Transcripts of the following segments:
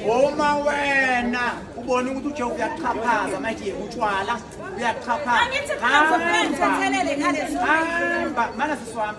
uma wena ubona ukuthi uje uyaxhaphaza manje yekutshwala uyaxhaphaza hamba mana siswami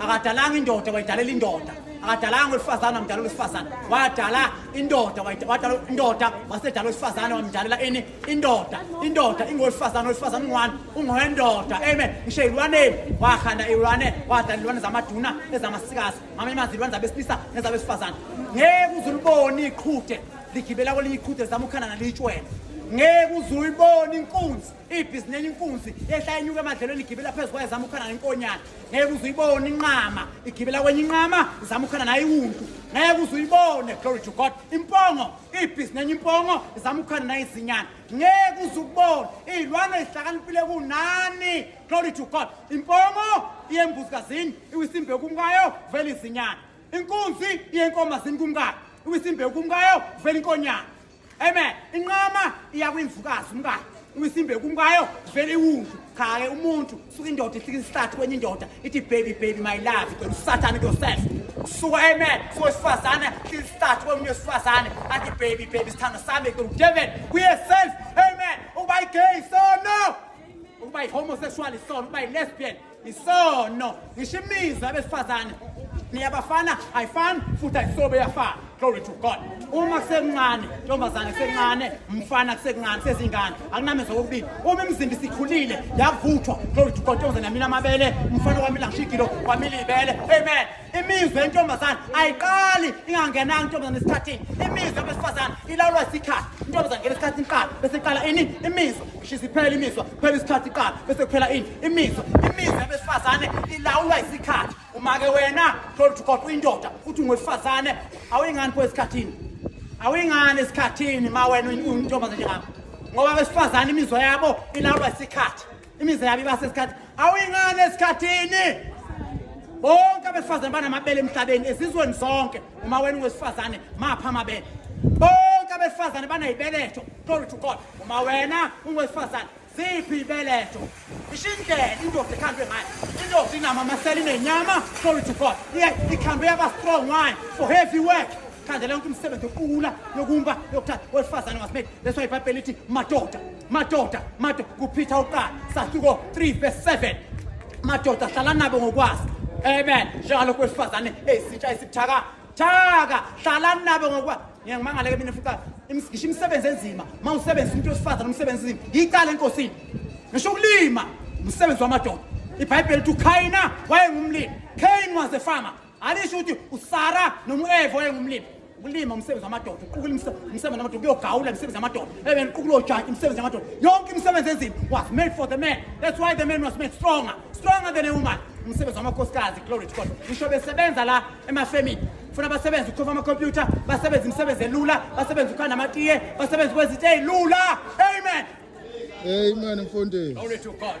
akadalanga indoda wayidalela indoda akadalanga wesifazane wamdalela wesifazane wadala indoda wadala indoda wasedala wesifazane wamdalela ini indoda indoda ingowesifazane wesifazane ungwani ungowendoda amen ngisho ilwaneni wakhanda ilwane wadala ilwane zamaduna ezamasikazi ngamanye amazi ilwane zabesilisa nezabesifazane ngeke uze ulibone iqhude ligibela kwelinye iqhude zama ukhanda nalitshwele ngeke uze uyibone inkunzi ibhizineli inkunzi yehla inyuka emadlelweni igibela phezu kwayo zama ukhona nenkonyana ngeke uze uyibone inqama igibela kwenye inqama zama ukhona nayo iwuntu ngeke uze uyibone glory to god impongo ibhizineli impongo zama ukhona nayo izinyana ngeke uze ukubone iy'lwane zihlakaniphile kunani glory to god impongo iyembuzi kazini iwisimbe kumkayo vele izinyana inkunzi iyenkomazini kumkayo iwisimbe kumkayo vele inkonyana Amen. Inqama iya kwimvukazi umkayo. Uyisimbe kumkayo vele iwuntu. Cha ke umuntu suka indoda ihlika isihlathi kwenye indoda ithi baby baby my love kodwa usathane yourself. Suka amen. Suka sifazane ihlika isihlathi kwemunye sifazane athi baby baby sithando sami kodwa David kuyeself. Amen. Uba gay so no. Uba homosexual so uba lesbian. isono ngisho imizwa abesifazane niyabafana ayifani futhi ayisobe yafana glory to god uma kusekuncane ntombazane kusekuncane mfana kusekuncane sezingane akunamezwa kokubili uma imizimba isikhulile yavuthwa glory to god ntombazane yamile amabele umfana wamile ngisho igilo wamile ibele amen imizwa yentombazane ayiqali ingangenanga intombazane esikhathini imizwa yabesifazane ilawulwa isikhathi intombazane ngena isikhathi iqala bese iqala ini imizwa shisa iphela imizwa phela isikhathi iqala bese kuphela ini imizwa imizwa yabesifazane ilawulwa isikhathi uma-ke wena thola ukuthi kodwa uyindoda uthi ungowesifazane awuyingani pho esikhathini awuyingani esikhathini ma wena uyintombazane njengami ngoba abesifazane imizwa yabo ilawulwa isikhathi imizi yabo iba sesikhathi awuyingane esikhathini bonke abesifazane banamabele emhlabeni ezizweni zonke uma wena ungwesifazane mapha amabele bonke abesifazane banayibeletho glory to god uma wena ungwesifazane ziphi ibeletho isho indlela indoda ekhandwe ngayo indoda inama amasela inenyama glory to god ikhandwe yaba strong wine for heavy work khandela yonke umsebenzi yokuqula yokumba yokuthatha wesifazane wasimedi leso ibhayibheli lithi madoda madoda madoda kuphitha uqala sahluko 3 verse 7 madoda hlala nabo ngokwazi amen njengalokhu wesifazane eyisintsha esibuthaka thaka hlala nabo ngokwazi ngeke ngimangale ke mina futhi ngisho imisebenzi enzima uma usebenzisa umuntu wesifazane umsebenzi enzima yicala enkosini ngisho ukulima umsebenzi wamadoda ibhayibheli lithi ukhayina wayengumlimi cain was a farmer alisho ukuthi usara noma u-eva oyengumlimi ukulima umsebenzi wamadoda uqukula umsebenzi wamadoda kuyogawula imisebenzi yamadoda ebe niqukula ojantshi imisebenzi yamadoda yonke imisebenzi enzima was made for the man that's why the man was made stronger stronger than a woman umsebenzi wamakhosikazi glory to god ngisho besebenza la emafemini funa basebenze ukhofa amakhompyutha basebenze imisebenzi elula basebenze ukhanda amatiye basebenze kwezinto ey'lula amen amen mfundisi glory to god